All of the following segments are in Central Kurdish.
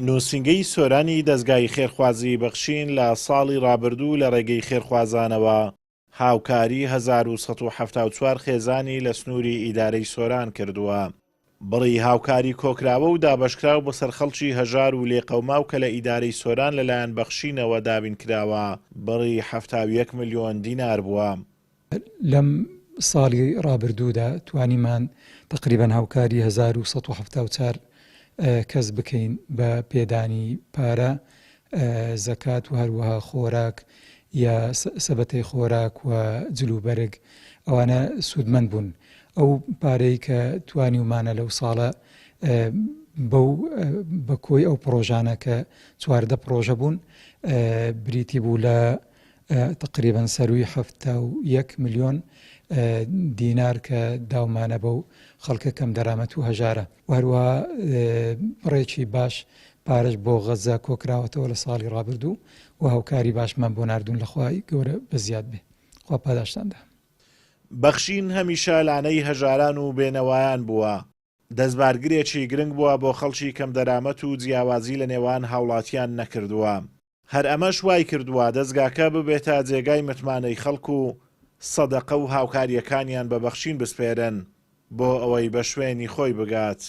نووسینگەی سۆرانی دەزگای خێرخوازی بەخشین لە ساڵی ڕابردوو لە ڕێگەی خێرخوازانەوە هاوکاری هەزار و سەد و حەفتا و چوار خێزانی لە سنووری ئیدارەی سۆران کردووە. بڕی هاوکاری کۆکراوە و دابەشکراو بەسەر خەڵکی هەژار و لێقەوماو کە لە ئیدارەی سۆران لەلایەن بەخشینەوە دابین کراوە بڕی حەفتا و یەک ملیۆن دینار بووە. لەم ساڵی ڕابردوودا توانیمان تەقریبەن هاوکاری هەزار و سەد و حەفتا و چار کەس بکەین بە پێدانی پارە، زەکات و هەروەها خۆراک یا سەبەتەی خۆراک و جلوبەرگ، ئەوانە سوودمەند بوون. ئەو پارەی کە توانیومانە لەو ساڵە بەو بە کۆی ئەو پڕۆژانە کە چواردە پڕۆژە بوون بریتی بوو لە تەقریبەن سەرووی حەفتا و یەک ملیۆن دینار کە داومانە بەو خەڵکە کەمدەرامەت و هەژارە و هەروەها بڕێکی باش پارەش بۆ غەززە کۆکراوەتەوە لە ساڵی ڕابردوو و هاوکاری باشمان بۆ ناردوون لە خوای گەورە بە زیاد بێ خوا پاداشتاندا. بەخشین هەمیشە لانەی هەژاران و بێنەوایان بووە. دەستبارگرێکی گرنگ بووە بۆ خەڵکی کەمدەرامەت و جیاوازی لە نێوان هاوڵاتیان نەکردووە، هەر ئەمەش وایکردووە دەزگاکە ببێتە جێگای متمانەی خەڵک و سەدەقە و هاوکارییەکانیان بە بەخشین بسپێرن بۆ ئەوەی بە شوێنی خۆی بگات.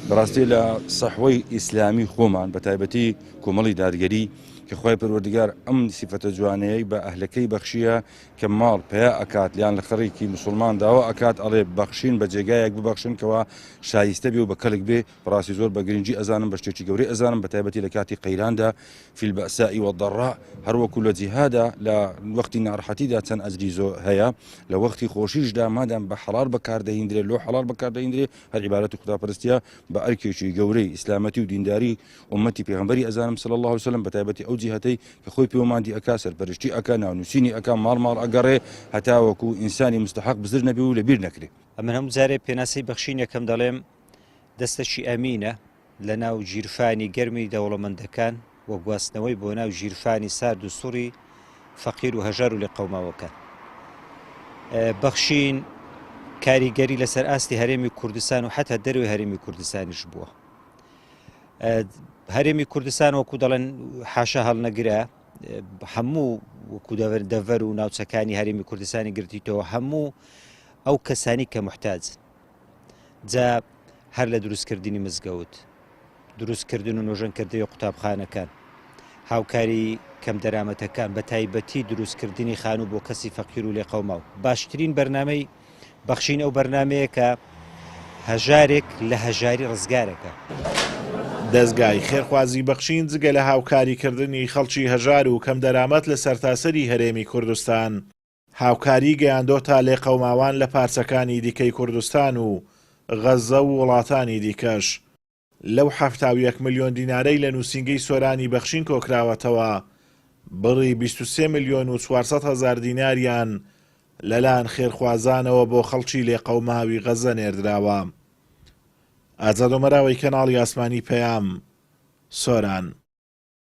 بەڕاستی لە سەحوەی ئیسلامی خۆمان بە تایبەتی کۆمەڵی دادگەری کە خوای پەروەردگار ئەم سیفەتە جوانەیەی بە ئەهلەکەی بەخشییە، کە ماڵ پەیا ئەکات یان لە خەڕیکی مسوڵمان داوا ئەکات ئەڵێ بەخشین بە جێگایەک ببەخشن کەوا شایستە بێ و بە کەلک بێ بەڕاستی زۆر بە گرنگی ئەزانم بە شتێکی گەورەی ئەزانم بە تایبەتی لە کاتی قەیراندا فی البأساء والضراء هەروەکو لە جیهادا لە وەختی ناڕەحەتیدا چەند ئەجری زۆر هەیە لە وەختی خۆشیشدا مادام بە حەڵال بەکاردەهیندرێ لۆ حەڵال بەکاردەهیندرێ هەر عیبارەتی خوداپەرستیە بە ئەرکێکی گەورەی ئیسلامەتی و دینداری ئوممەتی پێغەمبەری ئەزانم صلی اللە علیە وسلم بەتایبەتی ئەو جیهەتەی کە خۆی پێوە مادی ئەکا سەرپەرشتی ئەکا ناونووسینی ئەکا ماڵ ماڵ ئەگەڕێ هەتاوەکو ئینسانی مستحق بزر نەبی و لەبیر نەکرێ ئەمن هەموو جارێ پێناسەی بەخشینێکم دەڵێم دەستەکی ئەمینە لە ناو ژیرفانی گەرمی دەوڵەمەندەکان و گواستنەوەی بۆ ناو ژیرفانی سارد و سوڕی فەقیر و هەژار و لە قەوماوەکان بەخشین کاریگەری لەسەر ئاستی هەرێمی کوردستان و حتا دەروی هەرێمی کوردستانیش بووە هەرێمی کوردستان وەکو دەڵێن حاشا هەڵنەگرە هەموو وەکو دەبەر دەڤەر و ناوچەکانی هەرێمی کوردستانی گرتیتەوە هەموو ئەو کەسانی کە محتاج جا هەر لە دروستکردنی مزگەوت دروستکردن و نۆژەنکردنی قوتابخانەکان هاوکاری کەم دەرامەتەکان بە تایبەتی دروستکردنی خانوو بۆ کەسی فەقیر و لێقەوما و باشترین بەرنمەی بەخشین ئەو بەرنامەیە کە هەژارێک لە هەژاری ڕزگارەکە. دەزگای خێرخوازی بەخشین جگە لە هاوکاریکردنی خەڵکی هەژار و کەم دەرامەت لە سەرتاسەری هەرێمی کوردستان، هاوکاری گەیاندۆتە لێقەوماوان لە پارچەکانی دیکەی کوردستان و غەززە و وڵاتانی دیکەش. لەو حەفتا و یەک ملیۆن دینارەی لە نووسینگەی سۆرانی بەخشین کۆکراوەتەوە، بڕی بیست و سێ ملیۆن و چوار سەد هەزار دیناریان لەلایەن خێرخوازانەوە بۆ خەڵکی لێقەوماوی غەززە نێردراوە. ئازاد ئۆمەراوەی کەناڵی ئاسمانی پەیام، سۆران.